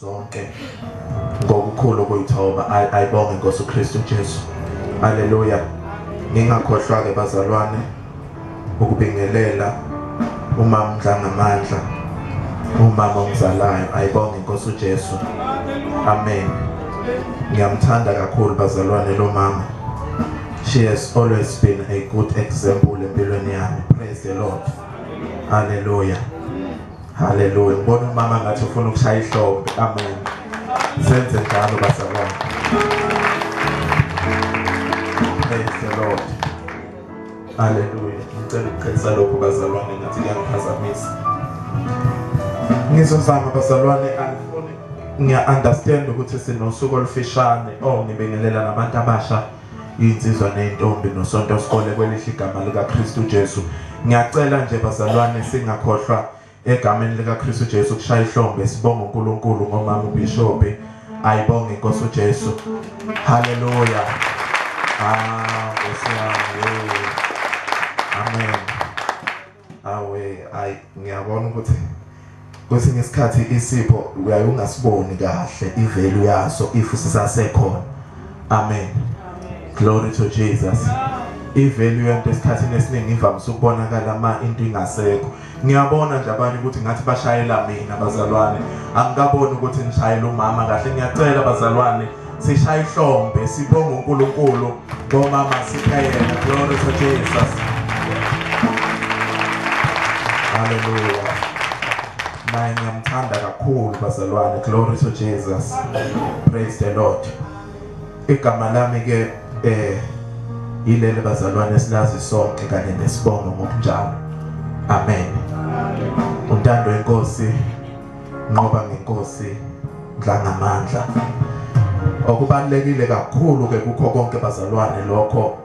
zonke ngokukhulu ukuyithoba ayibonge inkosi uKristu Jesu haleluya ngingakhohlwa ke bazalwane ukubingelela umama uNdlangamandla umama ongizalayo ayibonge inkosi uJesu amen ngiyamthanda kakhulu bazalwane lo mama she has always been a good example empilweni yami praise the lord haleluya haleluya ngibona umama ngathi ufuna ukushaya ihlombe amen senze njalo bazalwane praise the lord Haleluya. Ngicela ukuqinisa lokho bazalwane ngathi kuyangiphazamisa. Ngizozama bazalwane angifuni ngiya-understand ukuthi sinosuku olufishane o oh, ngibingelela nabantu abasha iy'nsizwa ney'ntombi nosonto sikole kwelihle igama likaKristu Jesu. Ngiyacela nje bazalwane singakhohlwa Egameni likaKristu Jesu kushaya ihlombe sibonga uNkulunkulu ngomama uBishop ayibonge inkosi uJesu haleluya ah ngosiyami amen awe ay ngiyabona ukuthi kwesinye isikhathi isipho uyaye ungasiboni kahle ivelu yaso if sisasekhona amen glory to jesus ivelu yento esikhathini esiningi ivamise ukubonakala ma into ingasekho ngiyabona nje abanye ukuthi ngathi bashayela mina bazalwane angikaboni ukuthi ngishayela umama kahle ngiyacela bazalwane sishaye ihlombe sibonge uNkulunkulu ngomama sipheyela glory to Jesus haleluya naye ngiyamthanda kakhulu bazalwane glory to Jesus praise the lord Igama lami ke eh yileli bazalwane silazi sonke kanye nesibongo ngokunjalo. Amen. Untando inkosi nqoba ngenkosi dlangamandla. Okubalekile kakhulu ke kukho konke bazalwane lokho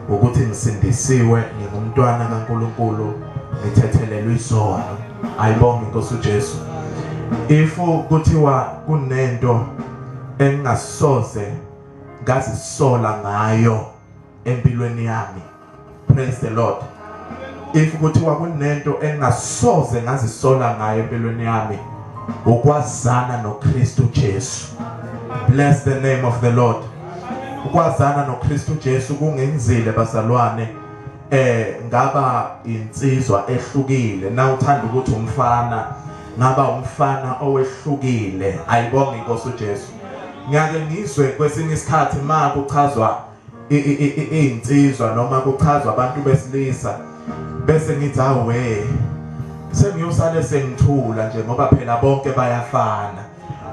ukuthi ngisindisiwe ngingumntwana kaNkuluNkulu ngithethelelwe izono ayibonge inkosi uJesu if kuthiwa kunento engingasoze ngazisola ngayo empilweni yami praise the lord if kuthiwa kunento engasoze ngazisola ngayo empilweni yami ukwazana noKristu Jesu bless the name of the lord ukwazana noKristu Jesu kungenzile bazalwane eh ngaba insizwa ehlukile na uthanda ukuthi umfana ngaba umfana owehlukile ayibonga inkosi uJesu ngiyake ngizwe kwesinye isikhathi ma kuchazwa izinsizwa noma kuchazwa abantu besilisa bese ngithi awe sengiyosale sengithula nje ngoba phela bonke bayafana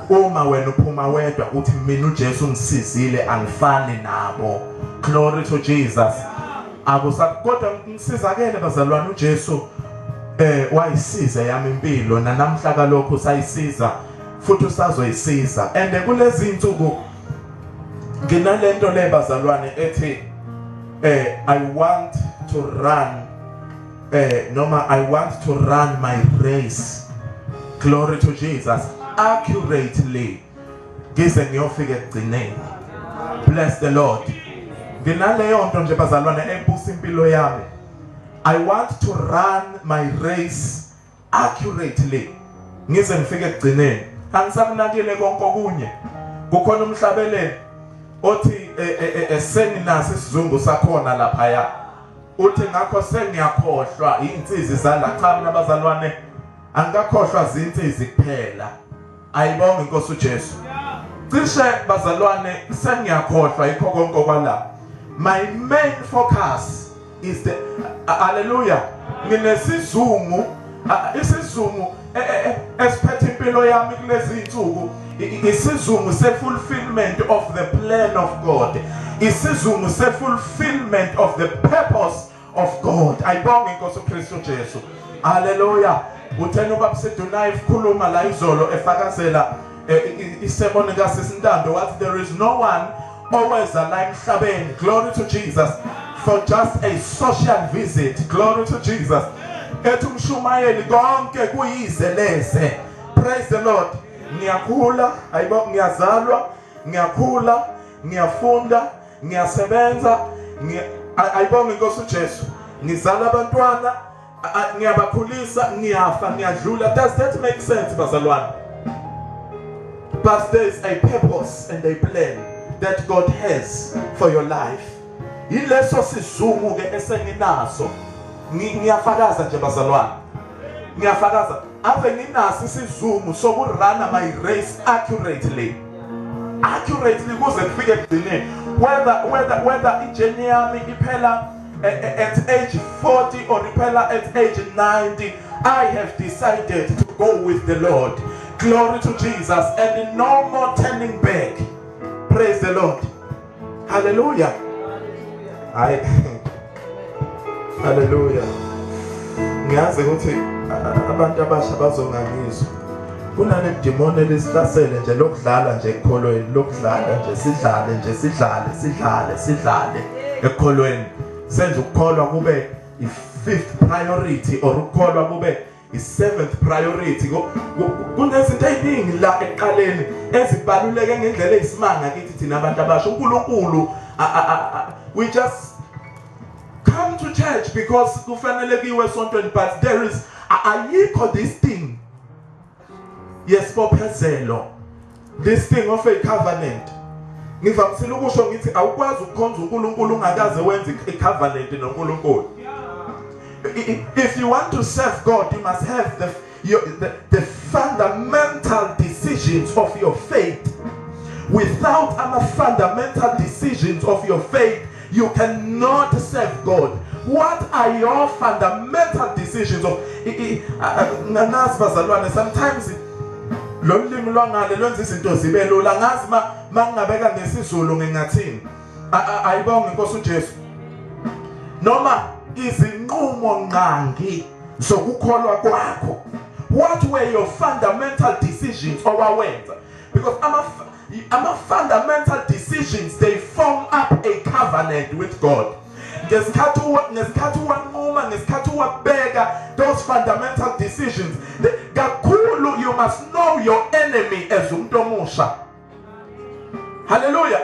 uma wena uphuma wedwa uthi mina uJesu ngisizile angifani nabo glory to Jesus akusakodwa ngisizakele bazalwane uJesu eh wayisiza yami impilo nanamhla kalokho sayisiza futhi usazoyisiza and kulezi insuku nginalento le bazalwane ethi eh i want to run eh noma i want to run my race glory to jesus accurately ngize ngiyofika ekugcineni bless the lord nginaleyo nto nje bazalwane ebusa impilo yami i want to run my race accurately ngize ngifike ekugcineni angisakunakile konke okunye kukhona umhlabeleli othi e, e, e, esenginaso isizungu sakhona lapha ya uthi ngakho sengiyakhohlwa insizi zala cha mina bazalwane angikakhohlwa zinsizi kuphela Ayibonge inkosi uJesu. Cishe bazalwane sengiyakhohlwa yikho konke okwala. My main focus is the hallelujah. Nginesizungu isizungu e, e, e, esiphethe impilo yami kulezi insuku isizungu se-fulfillment of the plan of God isizungu se-fulfillment of the purpose of God ayibonge inkosi uKristu Jesu haleluya uthena ubaba Sidunayi ekhuluma la izolo efakazela eh, isemoni kaSisintando wathi there is no one oweza la emhlabeni glory to Jesus for just a social visit glory to Jesus ethi umshumayeli konke kuyize leze praise the lord ngiyakhula ayibo ngiyazalwa ngiyakhula ngiyafunda ngiyasebenza ayibonga inkosi uJesu ngizala abantwana ngiyabakhulisa ngiyafa ngiyadlula does that make sense bazalwane but there is a purpose and a plan that God has for your life yileso sizungu ke esenginaso ngiyafakaza nje bazalwane ngiyafakaza Ave nginaso isizungu sokurana my race accurately accurately kuze kufike ekugcineni whether whether whether ijeni yami iphela eh, eh, at age 40 or iphela at age 90 I have decided to go with the Lord glory to Jesus and no more turning back praise the Lord Hallelujah. Hayi. Hallelujah. Ngiyazi ukuthi abantu abasha bazongangizwa. Kunale demoni elisihlasele nje lokudlala nje ekholweni, lokudlala nje sidlale nje sidlale sidlale sidlale ekholweni. Senza ukukholwa kube i fifth priority or ukukholwa kube i-seventh priority kunezinto eziningi la ekuqaleni ezibaluleke ngendlela eyisimanga kithi thina abantu abasha uNkulunkulu we just come to church because kufanele kiwe esontweni but there is ayikho this thing yesibophezelo This thing of a covenant ngivamisile ukusho ngithi awukwazi ukukhonza uNkulunkulu ungakaze wenze icovenant noNkulunkulu if you want to serve God you must have the your, the, the fundamental decisions of your faith without ama fundamental decisions of your faith You cannot serve God. What are your fundamental decisions of nganazi bazalwane sometimes lo limi lwangale lwenza izinto zibe lula ngazi ma mangingabeka ngesizulu ngingathini ayibonge inkosi uJesu noma izinqumo ngqangi zokukholwa kwakho what were your fundamental decisions owawenza Because ama, ama fundamental decisions they form up a covenant with God. ngesikhathi ngesikhathi wanquma ngesikhathi wabeka those fundamental decisions kakhulu you must know your enemy as umuntu omusha haleluya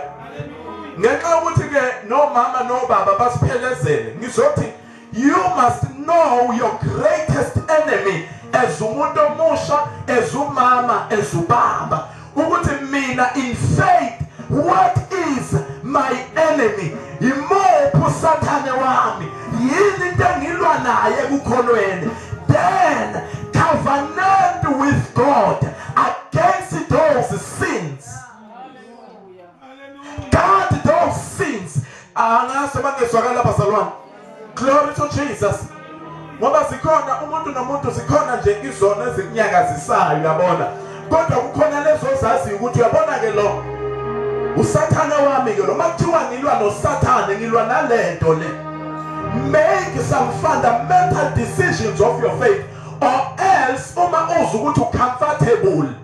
ngenxa ukuthi ke nomama nobaba basiphelezele ngizothi You must know your greatest enemy as umuntu omusha, as umama, as ubaba. Ukuthi mina in faith what is my enemy? Yimuphi usathane wami? Yini into engilwa naye ekukholweni? Then covenant with God against those sins. God those things angaso bangezwakala bazalwane glory to Jesus ngoba sikhona umuntu nomuntu sikhona nje izona ezikunyakazisayo yabona kodwa kukhona lezo zaziyo ukuthi uyabona ke lo usathane wami ke lo makuthiwa ngilwa nosathane ngilwa nalento le make some fundamental decisions of your faith or else uma uzi ukuthi ucomfortable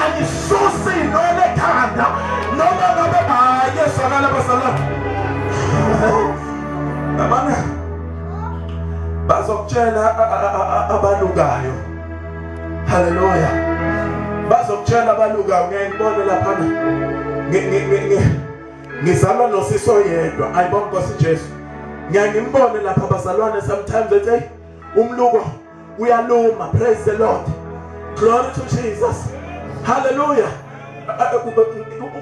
angisusi noma ekhanda noma ngabe hayi esakala basala abana bazokutshela abalukayo haleluya bazokutshela abalukayo ngeke ngibone lapha ngizalwa nosisi oyedwa ayibona nkosi Jesu ngiyangimbone lapha bazalwane sometimes ethi umluko uyaluma praise the lord glory to jesus hallelujah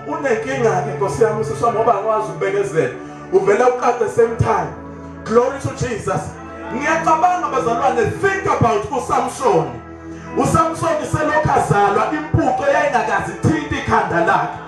unenkinga ke nkosi yami usiswa ngoba akwazi ukubekezela uvele uqade same time glory to jesus ngiyacabanga bazalwane think about usamsoni usamsoni selokhu azalwa impuco yayingakazi thinta ikhanda lakhe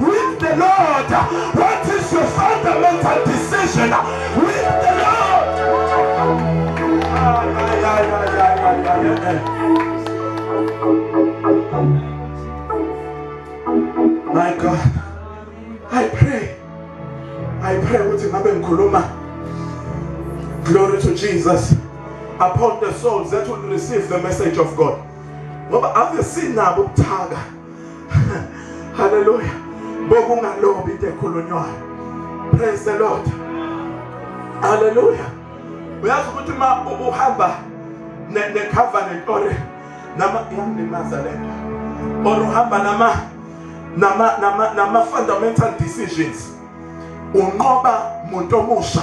With the Lord, what is your fundamental decision with the Lord? My God, I pray, I pray ukuthi ngabe ngikhuluma glory to Jesus upon the souls that will receive the message of God. Ngoba ave sinabo ubuthaka haleluya bokungalobi into ekhulunywayo praise the lord haleluya uyazi ukuthi ma uhamba ne covenant or nama yangilimaza lento or uhamba nama nama nama nama fundamental decisions unqoba muntu omusha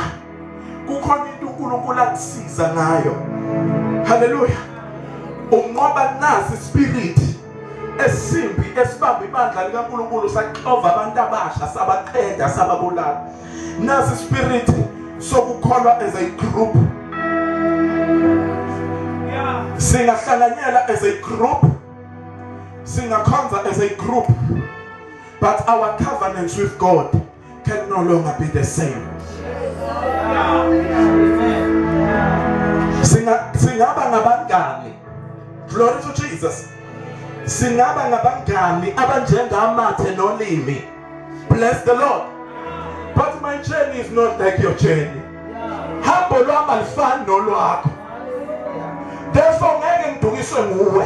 kukhona into uNkulunkulu akusiza ngayo haleluya unqoba nazi spirit esimbi esibamba ibandla likaNkulunkulu saxova abantu abasha sabaqeda sababulala nasi spirit sokukholwa as a group singahlanganyela as a group singakhonza as a group but our covenants with God can no longer be the same singa singaba ngabangani glory to Jesus singaba ngabangani abanjengamathe nolimi bless the lord but my journey is not like your journey hambo lwami alifani nolwakho therefore ngeke ngidukiswe nguwe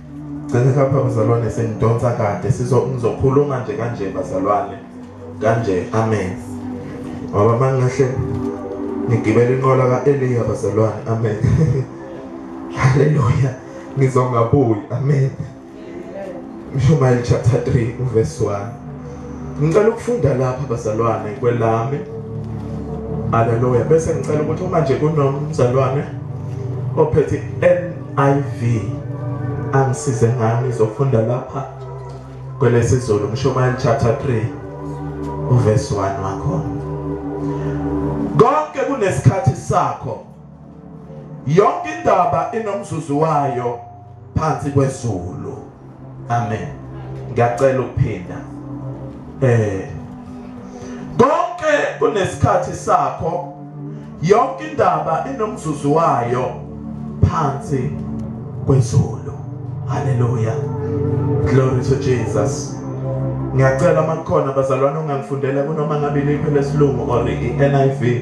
Cela kapha mzalwane sengidonsa kade sizo ngizokhuluma nje kanje bazalwane kanje amen ngoba mangahle ngigibela inqola kaEliya bazalwane amen haleluya ngizongabuyi amen Mshumayeli chapter 3 verse 1 Ngicela ukufunda lapha bazalwane kwelami. Haleluya. Bese ngicela ukuthi uma nje kunomzalwane ophethe NIV angisize ngami izofunda lapha kwelesizulu Mshumayeli chapter 3 uverse 1 wakhona. Konke kunesikhathi sakho. Yonke indaba inomzuzu wayo phansi kwezulu. Amen. Ngiyacela ukuphinda. Eh konke kunesikhathi sakho yonke indaba inomzuzu wayo phansi kwezulu. Hallelujah. Glory to Jesus. Ngiyacela makukhona bazalwane ongangifundela kunoma ngabe liphi lesilungu or iNIV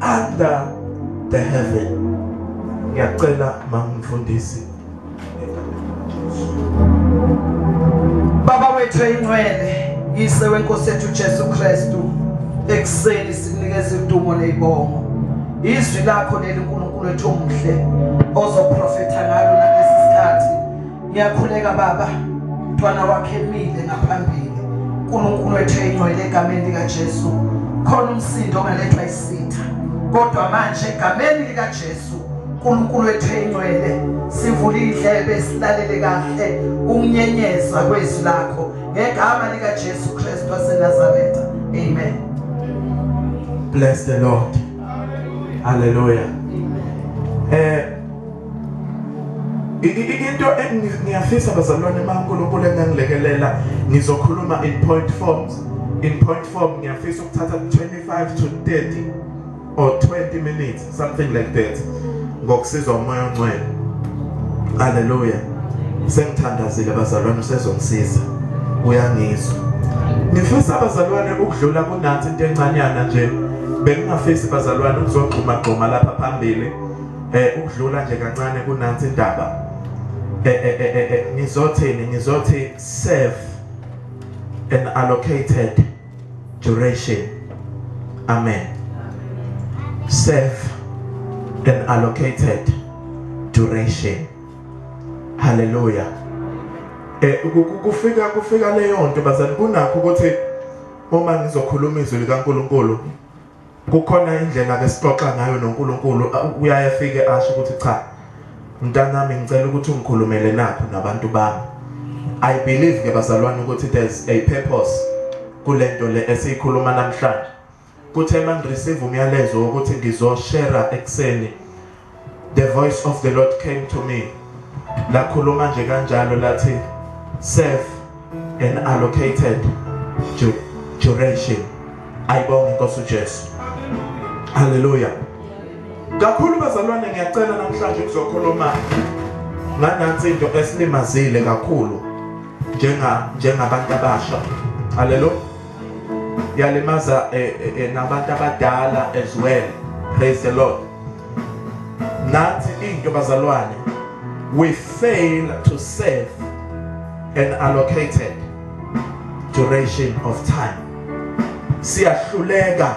under the heaven ngiyacela mamfundisi Baba wethu eyincwele yise wenkosi yethu Jesu Kristu ekuseni sinikeza udumo nezibongo izwi lakho leli uNkulunkulu wethu omuhle ozoprofetha ngalo Ngiyakhuleka baba, mntwana wakhe emile ngaphambili. uNkulunkulu ethu eyingcwele egameni lika Jesu. Khona umsindo ongalethwa isitha. Kodwa manje egameni lika Jesu uNkulunkulu ethu eyingcwele sivula indlebe silalele kahle ukunyenyeza kwezwi lakho ngegama lika Jesu Kristu waseNazaretha. Amen. Bless the Lord. Hallelujah. Hallelujah. Eh into ngiyafisa bazalwane uma uNkulunkulu engangilekelela ngizokhuluma in point forms in point form ngiyafisa ukuthatha 25 to 30 or 20 minutes something like that ngokusizwa umoya ongcwele haleluya sengithandazile bazalwane usezongisiza uyangizwa ngifisa abazalwane ukudlula kunathi into encanyana nje bengingafisi bazalwane ukuzogxuma gxuma lapha phambili eh ukudlula nje kancane kunansi indaba eh eh eh, eh, eh ngizothini ngizothi serve an allocated duration amen serve an allocated duration haleluya eh kufika kufika leyo nto bazani kunakho ukuthi uma ngizokhuluma izwi likaNkuluNkulu kukhona indlela besixoxa ngayo noNkulunkulu uyaye afike asho ukuthi cha mntanami ngicela ukuthi ungikhulumele nakho nabantu bami i believe ke bazalwane ukuthi there's a purpose kulento le esiyikhuluma namhlanje kuthe manje receive umyalezo ukuthi ngizoshare ekseni The voice of the Lord came to me. Lakhuluma nje kanjalo lathi serve an allocated duration. Ayibonge Nkosi uJesu. Hallelujah. Kakhulu bazalwane ngiyacela namhlanje kuzokhuluma nganathi into esilimazile kakhulu njenga njengabantu abasha. Hallelujah. yalimaza eh, eh, eh, nabantu abadala as well praise the lord nathi into bazalwane we fail to save an allocated duration of time siyahluleka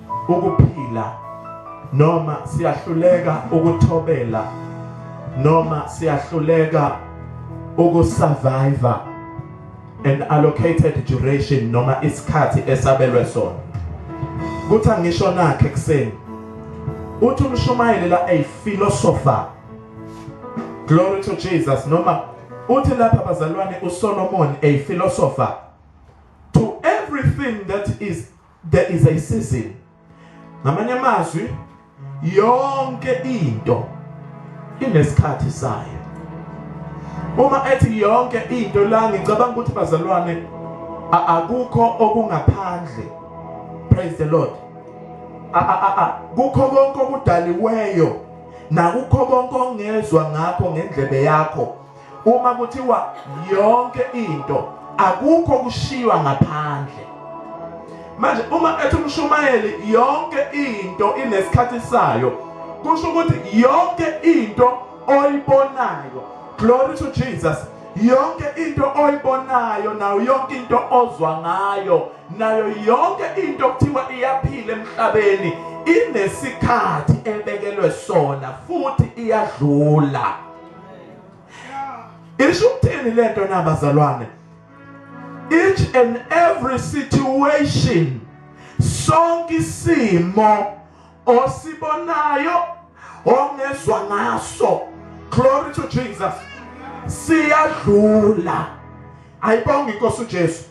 ukuphila noma siyahluleka ukuthobela noma siyahluleka ukusurvive an allocated duration noma isikhathi esabelwe sona kuthi angisho nakhe kuseni uthi umshumayeli la a philosopher glory to Jesus noma uthi lapha bazalwane uSolomon a philosopher to everything that is there is a season ngamanye amazwi yonke into inesikhathi sayo uma ethi yonke into la ngicabanga ukuthi bazalwane akukho okungaphandle praise the lord kukho konke okudaliweyo nakukho konke ongezwa ngakho ngendlebe yakho uma kuthiwa yonke into akukho kushiywa ngaphandle manje uma ethi umshumayeli yonke into inesikhathi sayo kusho ukuthi yonke into oyibonayo glory to Jesus yonke into oyibonayo nayo yonke into ozwa ngayo nayo yonke into okuthiwa iyaphila emhlabeni inesikhathi ebekelwe sona futhi iyadlula isho ukuthini lento na bazalwane each and every situation sonke isimo osibonayo ongezwa ngaso glory to Jesus siyadlula ayibonga inkosi uJesu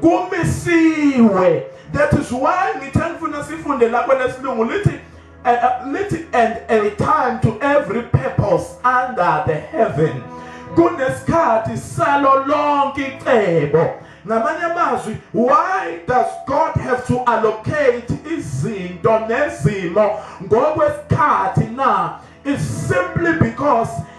kumisiwe that is why ngithe ngifuna sifunde lapho lesilungu lithi and, uh, lithi and a time to every purpose under the heaven kunesikhathi salo lonke icebo ngamanye amazwi why does god have to allocate izinto nezimo ngokwesikhathi na is simply because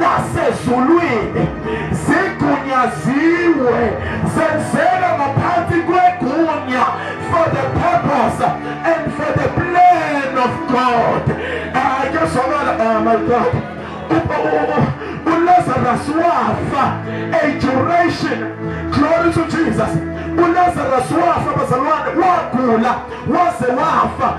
nasezulwini zigunyaziwe zenzeka ngaphansi kwegunya for the purpose and for the plan of God ayezwakala ah, oh my God uLazarus wafa a duration glory to Jesus uLazarus wafa bazalwane wagula waze wafa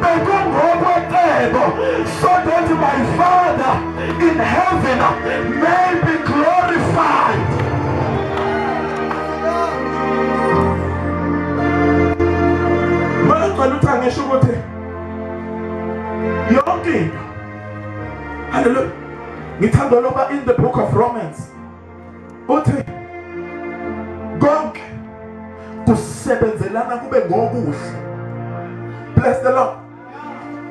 bekungokwecebo so that my father in heaven may be glorified ngicela ukuthi angisho ukuthi yonke into haleluya ngithanda loba in the book of romans uthi konke kusebenzelana kube ngokuhle bless the lord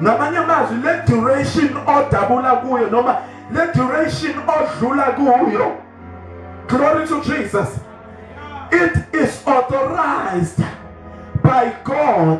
ngamanye amazwi le duration odabula kuyo noma le duration odlula kuyo glory to jesus it is authorized by god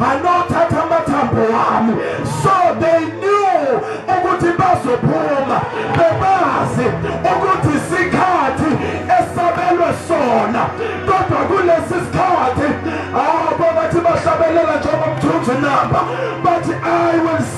banothatha amathambo wami so they knew ukuthi bazophuma bebazi ukuthi isikhathi esabelwe sona kodwa kulesi sikhathi abo ah, bathi bahlabelela njengoba mthunzi namba bathi i will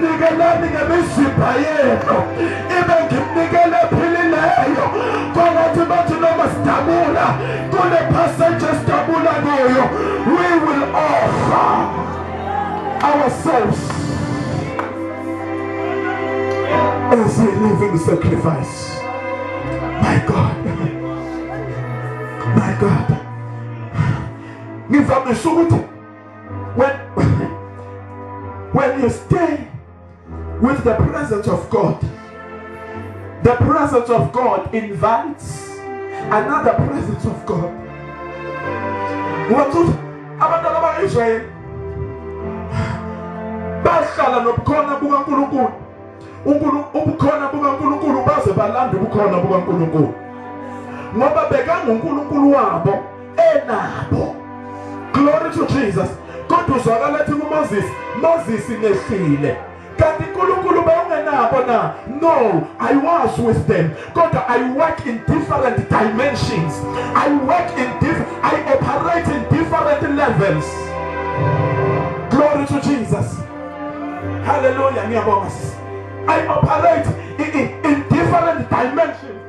nikelani ngemizimba yenu ibe ngimnikele ephilileyo kwangathi bathi noma sidabula kule passage esidabula kuyo we will offer ourselves as a living sacrifice my god my god ngivamise ukuthi when when you stay with the presence of God the presence of God invites another presence of God ngokuthi abantu abakayishaye bahlala nobukhona bukaNkulunkulu uNkulunkulu ubukhona bukaNkulunkulu baze balanda ubukhona bukaNkulunkulu ngoba bekanguNkulunkulu wabo enabo glory to Jesus kodwa uzwakala athi kuMoses Moses nehlile kanti uNkulunkulu bayengenabo na no i was with them kodwa i work in different dimensions i work in diff i operate in different levels glory to jesus hallelujah ngiyabonga i operate in, in different dimensions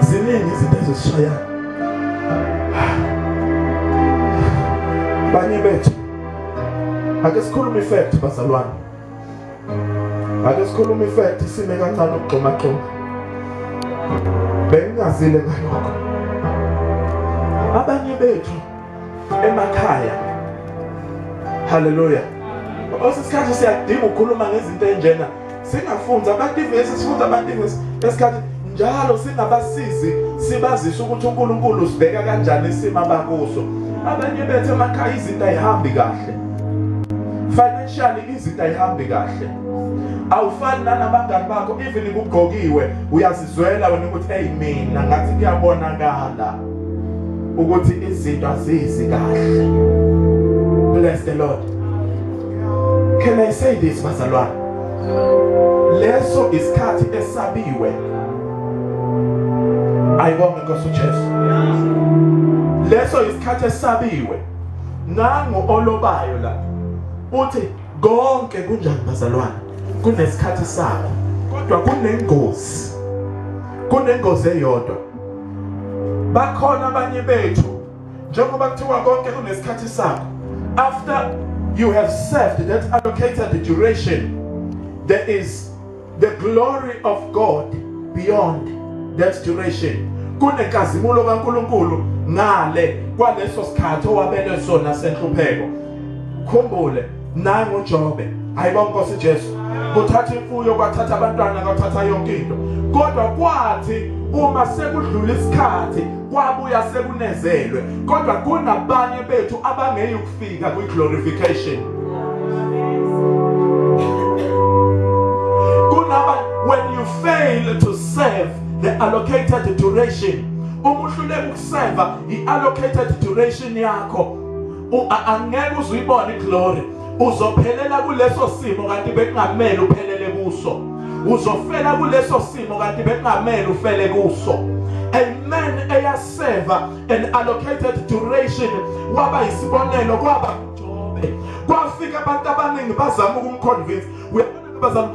ziningi izinto ezisishaya banye bethu ake sikhulume ifact bazalwane ake sikhulume ifact isime kancane ukugxuma gxuma bengingazile ngalokho abanye bethu emakhaya haleluya osesikhathi siyadinga ukukhuluma ngezinto enjena singafundi abativesi sifundi abativesi esikhathi njalo singabasizi sibazise ukuthi uNkulunkulu sibheka kanjani isimo abakuso abanye bethu emakhaya izinto ayihambi kahle financially izinto ayihambi kahle awufani nanabangani bakho even kugqokiwe uyazizwela wena ukuthi hey mina ngathi kuyabonakala ukuthi izinto azizi kahle bless the lord Can I say this bazalwane? Leso isikhathi esabiwe. Ayibonge Nkosi uJesu. Leso isikhathi esabiwe. Nangu olobayo la. Uthi konke kunjani bazalwane? Kunesikhathi sakho. Kodwa kunengozi. Kunengozi eyodwa. Bakhona abanye bethu njengoba kuthiwa konke kunesikhathi sakho after you have served that allocated duration there is the glory of God beyond that duration kunenkazimulo kaNkuluNkulu ngale kwaleso sikhathi owabelwe sona senhlupheko khumbule naye nguJobe hayibo Nkosi Jesu kuthatha imfuyo kwathatha abantwana kwathatha yonke into kodwa kwathi uma sekudlula isikhathi kwabuya sekunezelwe kodwa kunabanye bethu abangeyi ukufika kwi glorification kunaba when you fail to serve the allocated duration uma uhluleka ukuseva i allocated duration yakho angeke uzuyibone iglory uzophelela kuleso simo kanti bekungamele uphelele kuso uzofela kuleso simo kanti bekungamele ufele kuso amen eyaseva an allocated duration waba isibonelo kwaba uJobe kwafika abantu abaningi bazama ukumconvince uyabona bazama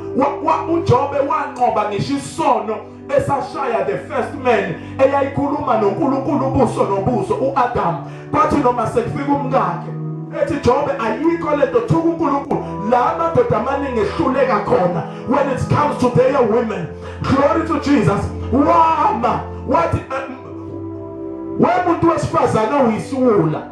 uJobe wanqoba ngisho isono esashaya the first man eyayikhuluma noNkulunkulu ubuso nobuso uAdam kwathi noma sekufika umkakhe ethi Jobe ayikho lento thuka uNkulunkulu la amadoda amaningi ehluleka khona when it comes to their women glory to Jesus wama wathi wemuntu wesifazane uyisiwula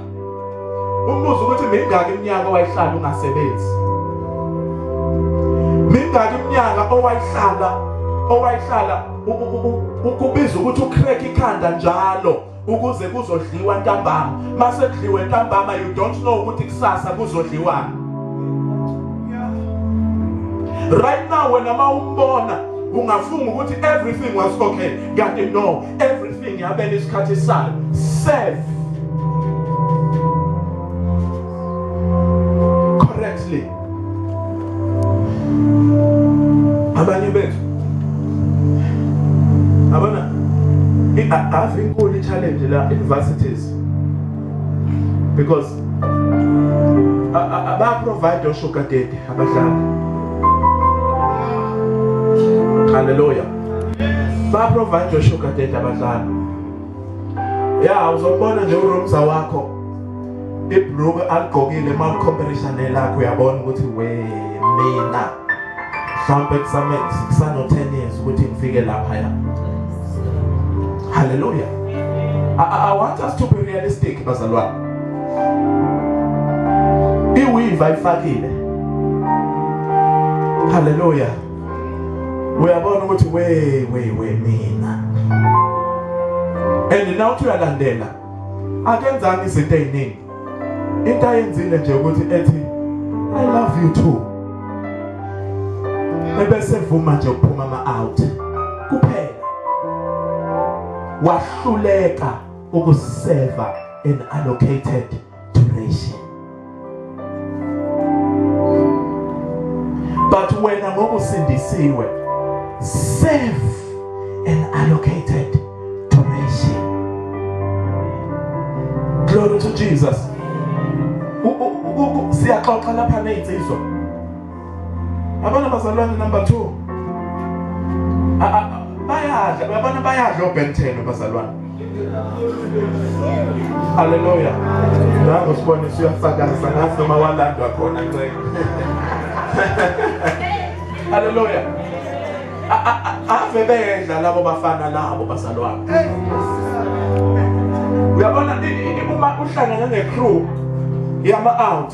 Umbuzo ukuthi mingaki iminyaka owayihlala ungasebenzi? Mingaki iminyaka owayihlala owayihlala ukubiza ukuthi ucrack ikhanda njalo ukuze kuzodliwa ntambama mase kudliwe ntambama you don't know ukuthi kusasa kuzodliwani right now wena mawumbona ungafunga ukuthi everything was okay kanti no everything yabela isikhathi sayo serve correctly abanye bethu abana ave inkulu i-challenge la universities because abaprovide oshugadede abadlali haleluya ba provide your sugar daddy abadlali ya uzobona nje uromza wakho ibhruku aligqokile uma ulicompetition nelakho uyabona ukuthi we mina mhlawumbe kusame kusano 10 years ukuthi ngifike lapha ya haleluya I, I want us to be realistic bazalwane iwiva ifakile haleluya uyabona ukuthi we we we mina and now uthi uyalandela akenzanga izinto eziningi into ayenzile nje ukuthi ethi i love you too ebese vuma nje ukuphuma ama out kuphela wahluleka ukuseva an allocated duration but wena ngoba usindisiwe save an allocated duration glory to Jesus siyaxoxa lapha nezinsizwa Abana bazalwane number 2. Bayadla, abana bayadla obethelo bazalwane. Hallelujah. Nango sibone siyafakaza ngathi noma walandwa khona nceke. Hallelujah. Ave bedla labo bafana labo bazalwane. Uyabona uma uhlangana ne-crew yama-out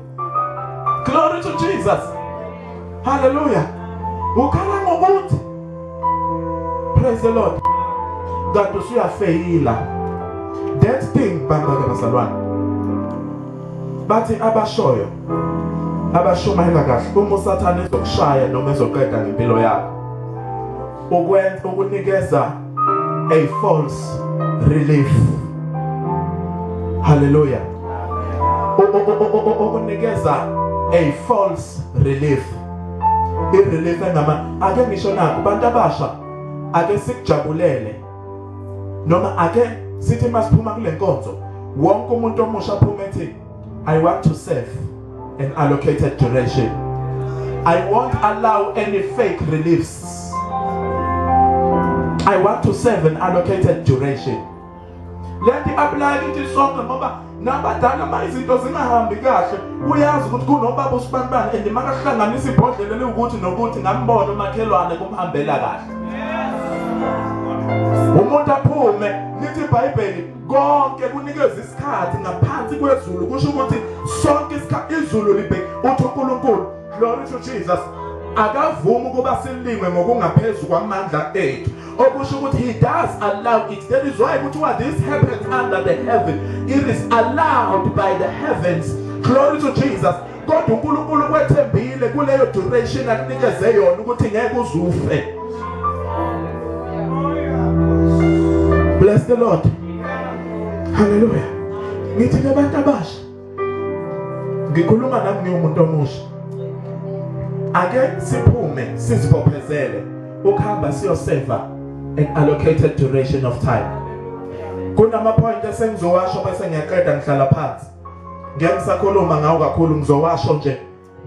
Glory to Jesus. Hallelujah. Ukhala ngokuthi Praise the Lord. Kade usuyafeyila. That thing bangaka bazalwane. Bathi abashoyo abashumayela kahle uma usathane ezokushaya noma ezoqeda ngempilo yakho ukwenza ukunikeza a false relief hallelujah ukunikeza a false relief i relief engama ake ngisho nakho abantu abasha ake sikujabulele noma ake sithi masiphuma kule nkonzo wonke umuntu omusha aphuma ethi I want to serve an allocated duration. I won't allow any fake reliefs. I want to serve an allocated duration. Let the apply kithi sonke ngoba nabadala uma izinto zingahambi kahle uyazi ukuthi kunobaba usibanibani and makahlanganisa ibhodlela liwukuthi nokuthi ngambona umakhelwane kumhambela kahle umuntu aphume lithi ibhayibheli konke kunikeza isikhathi ngaphansi kwezulu kusho ukuthi sonke isikhathi izulu libheke uthi uNkulunkulu glory to Jesus akavumi ukuba silingwe ngokungaphezulu kwamandla ethu okusho ukuthi he does allow it that is why kuthiwa this happens under the heaven it is allowed by the heavens glory to Jesus kodwa uNkulunkulu kwethembile kuleyo duration akunikeze yona ukuthi ngeke uzufe bless the lord haleluya ngithi nabantu abasha ngikhuluma nami ngiwumuntu omusha ake siphume sizibophezele ukuhamba siyoseva an allocated duration of time kunama point esengizowasho bese ngiyaqeda ngihlala phansi ngeke ngisakhuluma ngawo kakhulu ngizowasho nje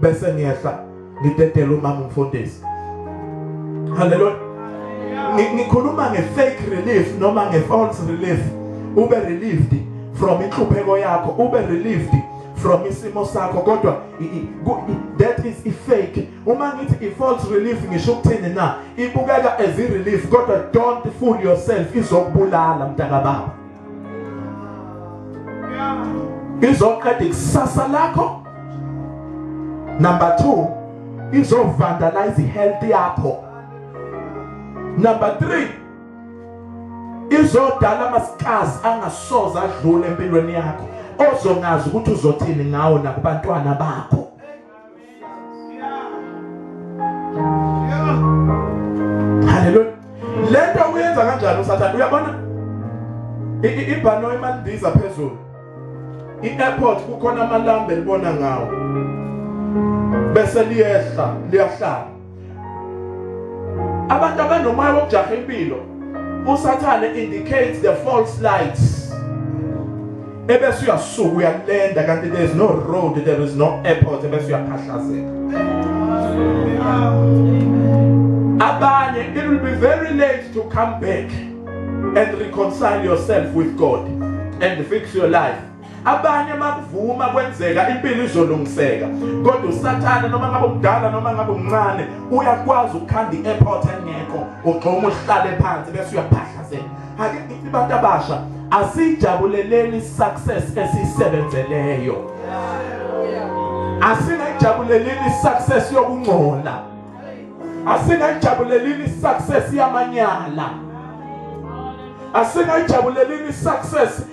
bese ngiyehla ngidedela umama umfundisi haleluya ngikhuluma ngefake relief noma ngefalse relief ube relieved from inhlupheko yakho ube relieved from isimo sakho kodwa that is ifake uma ngithi ifalse relief ngisho ukuthini na ibukeka as irelief kodwa don't fool yourself izokubulala mntaka baba izoqeda ikusasa lakho number 2 izovandalize health yakho number 3 izodala amasikazi angasoza adlule empilweni yakho ozongazi ukuthi uzothini ngawo nakubantwana bakho Haleluya. Lento uyenza kanjani uSathane? Uyabona? Ibhanoyi malindiza phezulu. I-airport kukhona amalambe libona ngawo. Bese liyehla, liyahlala. abantu abanomoya wokujaha impilo usathane indicates the false lights ebese uyasuka uyalenda kanti there is no road there is no airport ebese uyaphahlazeka abanye it will be very late to come back and reconcile yourself with God and fix your life abanye makuvuma kwenzeka impilo izolungiseka kodwa usathane noma ngabe umdala noma ngabe umncane uyakwazi ukukhanda i-airport engekho ugxuma uhlale phansi bese uyaphahlazela ake ngithi abantu abasha asijabuleleni success esiyisebenzeleyo asingayijabuleleni success yokungcola asingayijabuleleni success yamanyala asingayijabuleleni success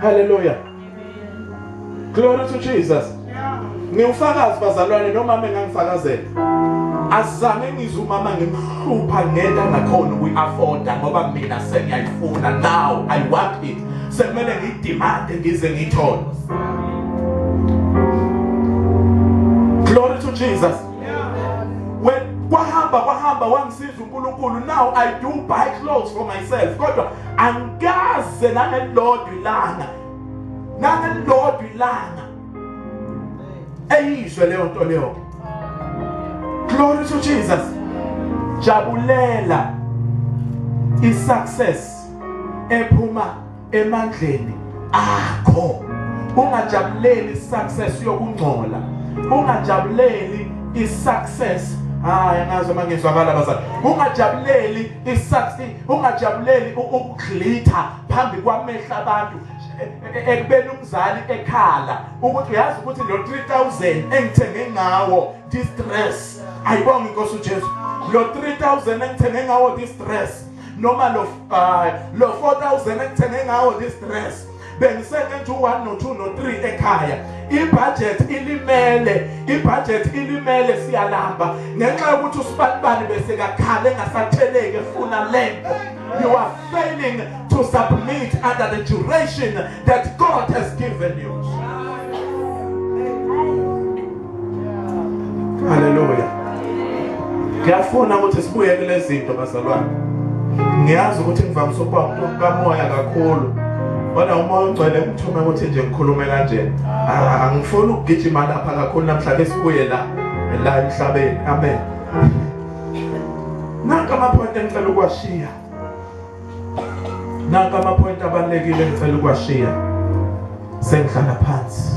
Hallelujah. Amen. Glory to Jesus. Ngiwufakazi bazalwane nomama engangifakazela. Azange ngizwe umama ngimhlupha ngenta ngakhona ukuyi-afforda ngoba mina sengiyayifuna now I want it. Sekumele ngidimande ngize ngithole. Glory to Jesus. When kwahamba kwahamba wangisiza uNkulunkulu now I do buy clothes for myself kodwa angikaze nangelilodwa ilanga nangelilodwa ilanga eyizwe leyo nto leyo glory to jesus jabulela i-success ephuma emandleni akho ungajabuleli i-success yokungcola ungajabuleli i-success hayi ngazi uma ngizwakala bazali ungajabuleli i-success ungajabuleli ukuglitha phambi kwamehla abantu e, e, e, ekubeni umzali ekhala ukuthi uyazi ukuthi lo 3000 engithenge ngawo distress ayibonga inkosi uJesu lo 3000 engithenge ngawo distress noma lo uh, lo 4000 engithenge ngawo distress bengiseke nje u-1 no-2 no-3 ekhaya ibhajethi ilimele ibhajethi ilimele siyalamba ngenxa yokuthi usibanibani besekakhale engasatheleki efuna lento you are failing to submit under the duration that god has given you Haleluya. Ngiyafuna ukuthi sibuye kulezi zinto bazalwane. Ngiyazi ukuthi ngivamise ukuba umuntu kamoya kakhulu. Kodwa umoya ugcwele ngithume ukuthi nje ngikhulume kanje. Ah, angifuni ukugijima lapha kakhulu namhlanje sibuye la la emhlabeni. Amen. Nanka amaphonti engicela ukuwashiya. naka ama-point abalulekile engicela ukuwashiya sengihlala phansi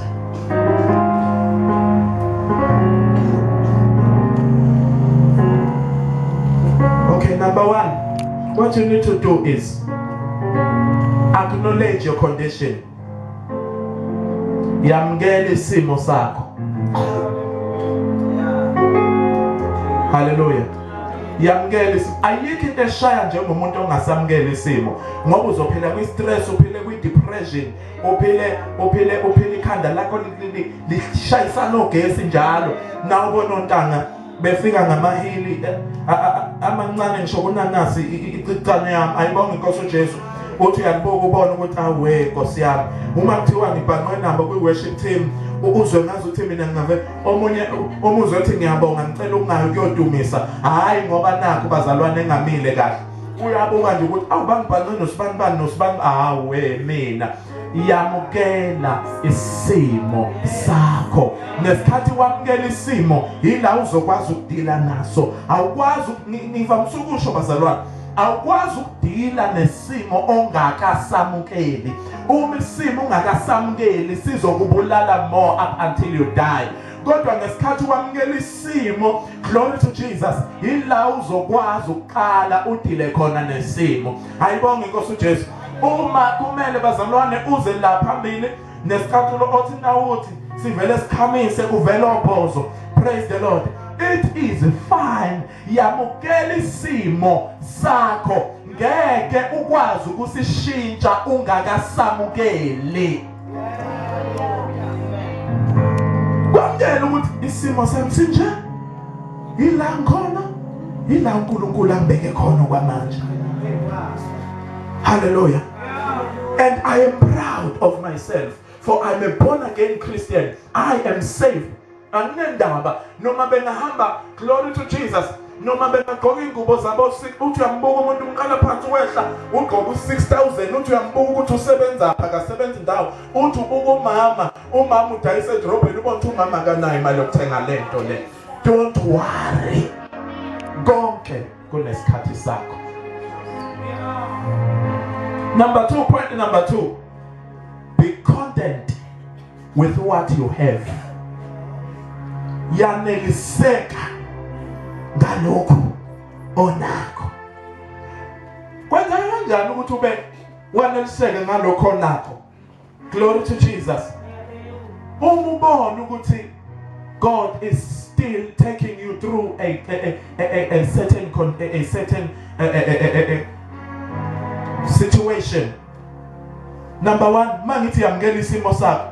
okay number one what you need to do is acknowledge your condition yamukela isimo sakho haleluya yamukela isimo ayikho into eshaya njengomuntu ongasamukela isimo ngoba uzophila kwi stress uphile kwi depression uphile uphile uphile ikhanda lakho lishayisa nogesi njalo nawo bonontanga befika ngamahili eh, amancane ngisho kunanasi icicane yami ayibonga inkosi uJesu uthi uyakubuka ubona ukuthi awe nkosi yami uma kuthiwa ngibhanqwe nabo kwi-worship team uzwe ngazi ukuthi mina ngingave omunye umuzwe othi ngiyabonga ngicela ukungayo kuyodumisa hhayi ngoba nakho bazalwane engamile kahle uyabuka nje ukuthi awubangibhanqe nosibani bani nosibani awe mina yamukela isimo sakho ngesikhathi wamukela isimo yila uzokwazi ukudila naso awukwazi ngivamise ukusho bazalwane awukwazi ukudila nesimo ongakasamukeli uma isimo ungakasamukeli sizokubulala more up until you die kodwa ngesikhathi wamukela isimo glory to Jesus yila uzokwazi ukuqala udile khona nesimo ayibonge inkosi uJesu Uma kumele bazalwane uze la phambili nesicathulo othi nawuthi sivele sikhamise kuvela obhozo praise the lord it is fine yamukela isimo sakho ngeke ukwazi ukusishintsha ungakasamukeli kwamukela ukuthi isimo sami sinje yila ngikhona yila uNkulunkulu ambeke khona kwamanje haleluya and i am proud of myself for i'm a born again christian i am saved anginendaba noma bengahamba glory to jesus noma bengagqoka iy'ngubo zabo uthi uyambuka umuntu umqala phansi wehla ugqoka u-six thousand uthi uyambuka ukuthi usebenzaphi akasebenzi ndawo uthi ubuka umama umama udayisa edorobheni ubona ukuthi umama akanayo imali yokuthenga le nto le don't worry konke kunesikhathi sakho number two point number two be content with what you have yaneliseka ngalokho onakho kwenzeka kanjani ukuthi ube waneliseke ngalokho onakho glory to Jesus uma ubona ukuthi God is still taking you through a a, a, a, a certain a, a certain a, a, a, a, a situation number 1 mangithi yamukela isimo sakho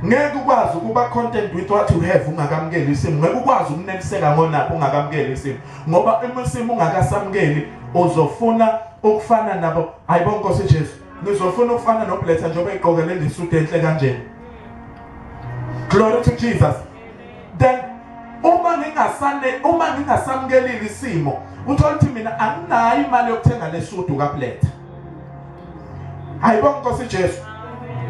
ngeke ukwazi ukuba content with what you have ungakamukeli isimo ngeke ukwazi ukuneliseka ngonapho ungakamukeli isimo ngoba uma isimo ungakasamukeli uzofuna ukufana nabo hayibo nkosi Jesu ngizofuna ukufana nobletha njengoba eqokelele isudu enhle kanjena glory to Jesus then uma ngingasane uma ngingasamkelile isimo uthola ukuthi mina anginayo imali yokuthenga lesudu kaPleta ayibonga Nkosi Jesu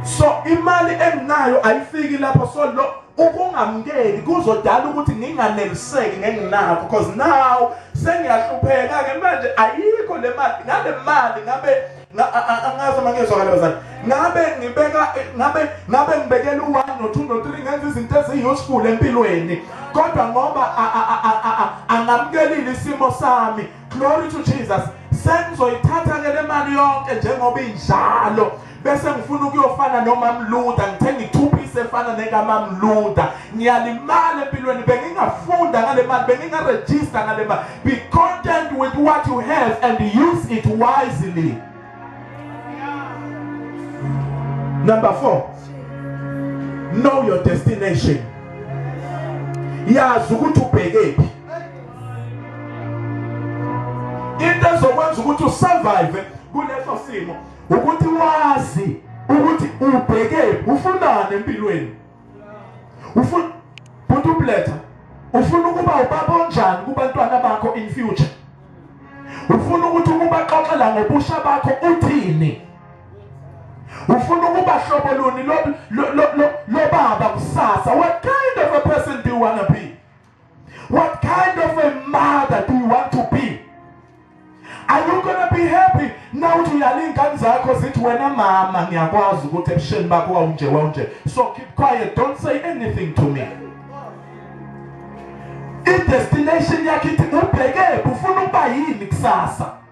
so imali enginayo ayifiki lapho so lo ukungamkeli kuzodala ukuthi nginganeliseki ngenginakho because now sengiyahlupheka ke manje ayikho le mali ngale mali ngabe angazi uma ngiyezwakala bazali ngabe ngibeka ngabe ngabe ngibekela u-one no-two no-three ngenza izinto eziyi-useful empilweni kodwa ngoba angamukelile isimo sami glory to jesus sengizoyithatha-ke le mali yonke njengoba injalo bese ngifuna ukuyofana nomamluda ngithenge ithuphi isefana nekamamluda ngiyalimala empilweni bengingafunda ngale mali bengingarejista ngale mali be content with what you have and use it wisely number four know your destination yazi ukuthi ubhekephi into ezokwenza ukuthi usurvive kuleso simo ukuthi wazi ukuthi ubhekephi ufunani empilweni ufuna umuntu ubuletha ufuna ukuba ubaba onjani kubantwana bakho in future ufuna ukuthi ukubaxoxela ngobusha bakho uthini ufuna ukuba hlobo luni lobaba kusasa what kind of a person do you wanna be What kind of a mother do you want to be? Are you gonna be happy now uthi uyala iy'ngane zakho zithi wena mama ngiyakwazi ukuthi ebusheni bakho wawunje wawunje so keep quiet don't say anything to me idestination yakhe ithi ubhekephi ufuna ukuba yini kusasa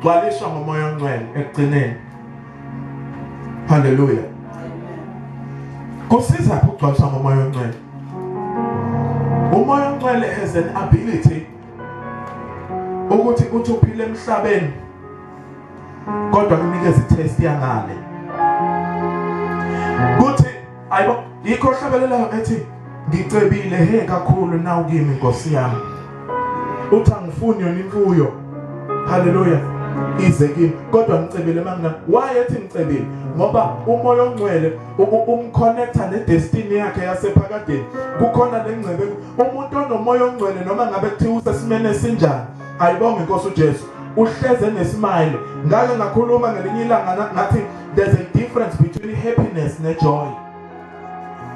gcwaliswa ngomoya ongcwele ekugcineni haleluya kusiza ukugcwaliswa ngomoya ongcwele umoya ongcwele has an ability ukuthi uthi uphile emhlabeni kodwa kunikeza itest yangale Ayibo yikho hlabelelayo ethi ngicebile he kakhulu nawu kimi Nkosi yami. Uthi angifuni yona imfuyo. Hallelujah. Ize kimi kodwa ngicebile mangina. Why ethi ngicebile? Ngoba umoya ongcwele umconnecta nedestiny yakhe yasephakadeni. Kukhona lengcebe umuntu onomoya ongcwele noma ngabe kuthiwa usesimene sinjani. Ayibonge Nkosi uJesu. uhleze nesimile ngake ngakhuluma ngelinye ilanga ngathi there's a difference between happiness ne joy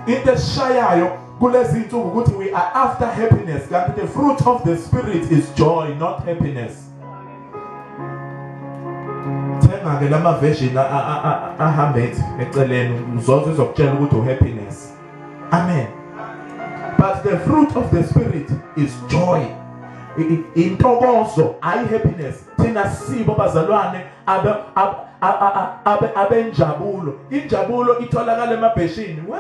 into eshayayo kulezi insuku ukuthi we are after happiness kanti the fruit of the spirit is joy not happiness thenga ke lama version ahambe eceleni uzoze izokutshela ukuthi u happiness amen but the fruit of the spirit is joy intokozo ayi happiness thina sibo bazalwane abe abe abenjabulo injabulo itholakala emabheshini we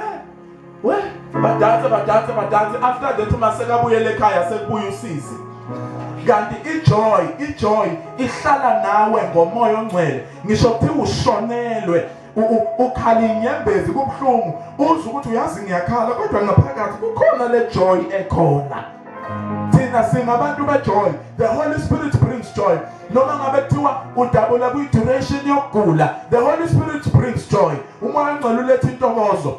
we badanse badanse badanse after that uma sekabuyele ekhaya sekubuya usizi kanti ijoy ijoy ihlala nawe ngomoya ongcwele ngisho kuthiwa ushonelwe ukhala inyembezi kubuhlungu uzwe ukuthi uyazi ngiyakhala kodwa ngaphakathi kukhona le joy ekhona thina singabantu bejoy the holy spirit brings joy noma ngabe kuthiwa udabula kwi-duration yokugula the holy spirit brings joy umoya ongcwele uletha intokozo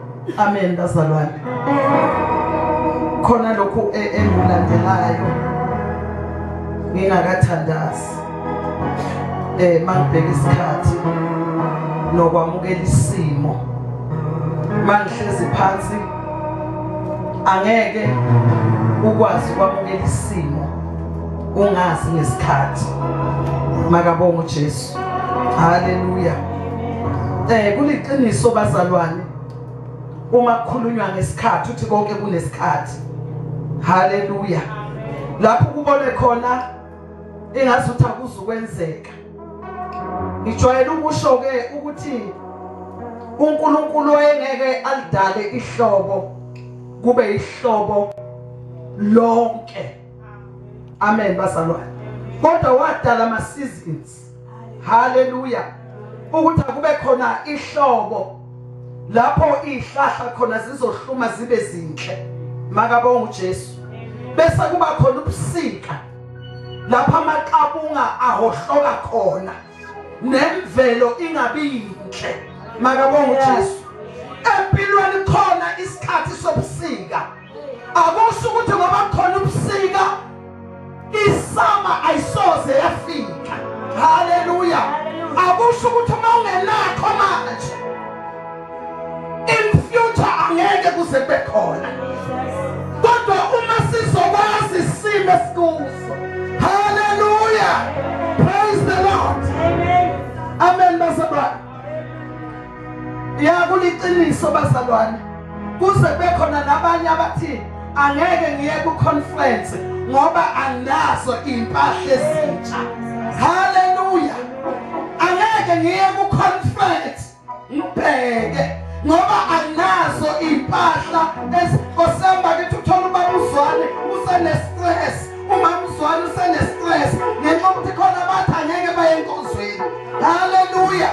Amen bazalwane. Khona lokhu e, engilandelayo ngingakathandazi. Eh mangibheka isikhathi nokwamukela isimo. Mangihlezi phansi angeke ukwazi kwamukela isimo ungazi ngesikhathi makabonga uJesu Haleluya. Eh kuliqiniso bazalwane. Uma kukhulunywa ngesikhathi uthi konke kunesikhathi. Haleluya. Lapho kubone khona engazi ukuthi akuzukwenzeka. Ngijwayele ukusho ke ukuthi uNkulunkulu wayengeke alidale ihlobo kube ihlobo lonke amen bazalwane kodwa wadala ama seasons haleluya ukuthi akube khona ihlobo lapho izihlahla khona zizohluma zibe zinhle makabonga uJesu bese kuba khona ubusika lapha amaqabunga ahohloka khona nemvelo ingabi yinhle makabonga uJesu empilweni khona isikhathi sobusika akusho ukuthi ngoba khona ubusika isama ayisoze yafika haleluya akusho ukuthi uma ungenakho manje in future angeke kuze kube khona kodwa uma sizokwazi isimo esikuso haleluya praise the lord amen, amen. ya kuliqiniso bazalwane kuze bekhona nabanye abathi angeke ngiye ku conference ngoba anginazo impahla ezintsha haleluya angeke ngiye ku conference ngibheke ngoba anginazo impahla esikosamba kithi uthola ubaba uzwane usene stress umamzwana usenestress ngenxa ukuthi khona abathi angeke baye enkonzweni haleluya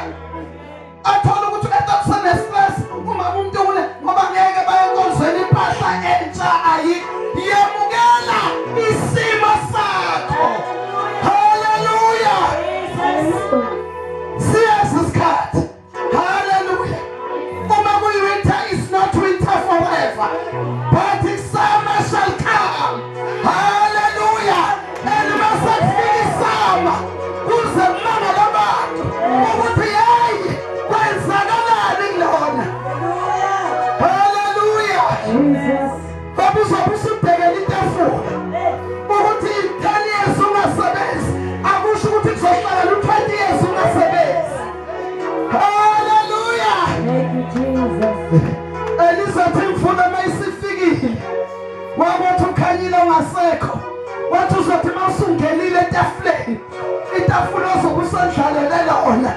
athola ukuthi umuntu usenestress uma umuntu une ngoba ngeke baye enkonzweni impahla entsha ayi yemukela isimo sakho haleluya siyazi isikhathi Hallelujah. Uma kuyi winter is not winter forever. But the summer shall come. Hallelujah. And masakufika summer kuze mama labantu ukuthi hey kwenzakalani kulona. Hallelujah. Jesus. Baba uzobe usubhekela itafula. Ukuthi i-10 years ungasebenzi akusho ukuthi kuzohlala lu-20 years ungasebenzi. Haleluya. Thank you Jesus. Elizathi mfuna mayisifikile. Wakuthi ukhanyile ongasekho. Wathi uzothi mawusungenile etafuleni. Itafula ozokusandlalela lona.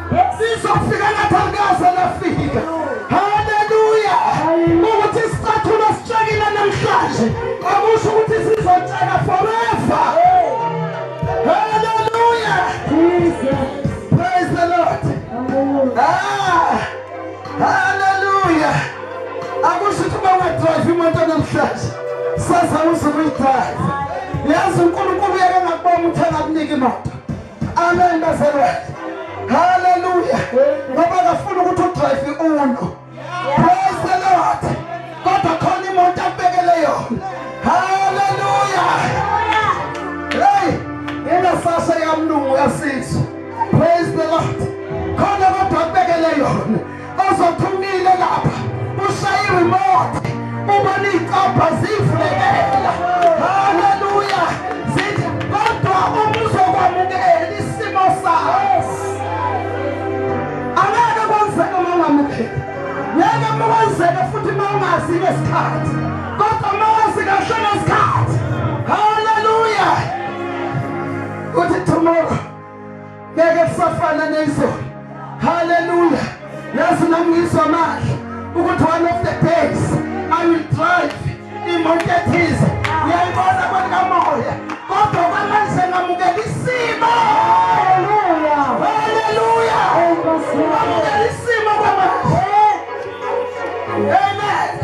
Sizofika lapha ngikaze nafika. Haleluya. Ukuthi isicathulo sitshekile namhlanje. Akusho ukuthi sizotsheka forever. Haleluya. Praise the Lord. Ah. Haleluya. Akusho ukuthi uma wedrive imoto namhlanje. Sasa uzumidrive. Yazi uNkulunkulu uyeke ngakubona ukuthi akakunike imoto. Amen bazalwane. Hallelujah. Ngoba akafuna ukuthi udrive uno. Praise the Lord. Kodwa khona imoto abekele yona. Hallelujah. Hey, yena sasa yamlungu yasizwa. Praise the Lord. Khona kodwa abekele yona. ozophumile lapha ushaye remote ubona icabha zivulekela haleluya zithi kodwa umuzokwamukela isimo sakho angeke kwenzeke uma ungamukeli ngeke uma kwenzeke futhi uma ungazi ngesikhathi kodwa uma wazi kahle ngesikhathi haleluya uthi tomorrow ngeke kusafana nezolo haleluya yazi nangizwa manje ukuthi one of the days i will drive imoto ethize uyayibona kwenkamoya kodwa kwamanje ngamukela isimo haleluya haleluya ngamukela isimo kwamanje amen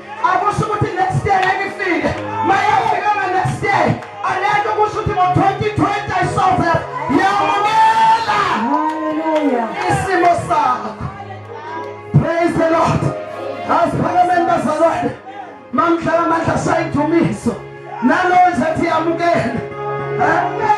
Akusho ukuthi next day ngeke ifike. Mayafika nga next day. Alento kusho ukuthi ngo 2020 I saw that. Yamukela. Hallelujah. Isimo sakho. Praise the Lord. Asiphakameni bazalwane. Mamdlala amandla sayidumisa. Nalo ngizathi yamukela. Amen.